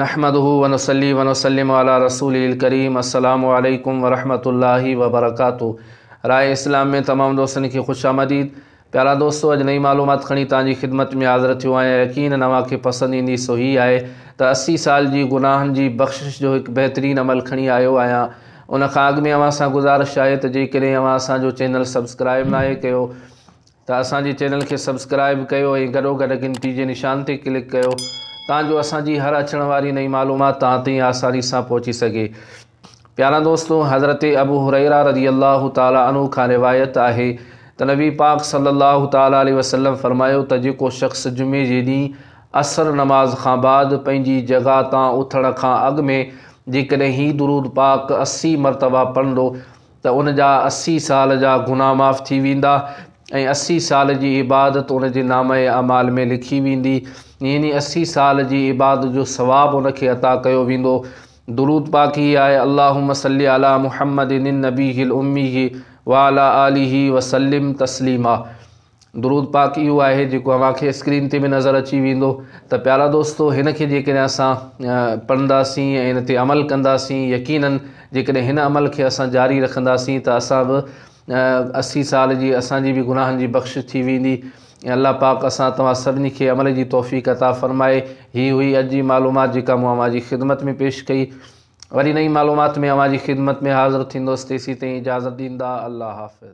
نحمده ونصلي ونسلم علي رسوله الڪريم السلام عليڪم ورحمة الله وبرڪاته راء اسلام ۾ تمام دوستن کي خوش آمديد پيارا دوستو اڄ نئي معلومات کڻي تان جي خدمت ۾ حاضر ٿيو آهيان يقين نوان کي پسند ايندي سو هي آهي ته اسي سال جي گناهن جي بخشش جو هڪ بهترين عمل کڻي آيو آهيان ان کان اڳ ۾ اوهان سان گذارش آهي ته جيڪڏهن اوهان اسان جو چينل سبسڪرائب ناهي ڪيو ته اسان جي چينل کي سبسڪرائب ڪيو ۽ گڏوگڏ گھنٽي جي نشان تي ڪلڪ ڪيو تان جو اسان جي هر اچڻ واري نئين معلومات توهان تائين آساني سان پهچي سگھي پيارا دوستو حضرت ابو هريره رضي الله تعالٰي عنه کان روايت آهي ته نبي پاڪ صلي الله تعالٰي عليه وسلم فرمايو ته جيڪو شخص جمعي جي ڏينهن عصر نماز کان بعد پنهنجي جڳهه تان اٿڻ کان اڳ ۾ جيڪڏهن هي درود پاڪ اسي مرتبه پڙهندو ته ان جا اسي سال جا گناهه معاف ٿي ويندا ۽ اسي سال جي عبادت ان جي نامه اعمال ۾ لکي ويندي يعني اسي سال جي عبادت جو ثواب ان کي عطا ڪيو ويندو درود پاڪ هي آهي اللهم صل علي محمد النبي الامي وعلى آله وسلم تسليما درود پاڪ اهو آهي جيڪو اوهان کي اسڪرين تي به نظر اچي ويندو ته پيارا دوستو هن کي جيڪڏهن اسان پڙهنداسين ۽ هن تي عمل ڪنداسين يقيناً جيڪڏهن هن عمل کي اسان جاري رکنداسين ته اسان به اسي سال جي اسانجي به گناهن جي بخش ٿي ويندي ۽ الله پاڪ اسان توهان سڀني کي عمل جي توفيق عطا فرمائي هي هئي اڄ جي معلومات جيڪا مون اوهان جي خدمت ۾ پيش ڪئي وري نئين معلومات ۾ اوهان جي خدمت ۾ حاضر ٿيندوس تيسي تائين اجازت ڏيندا الله حافظ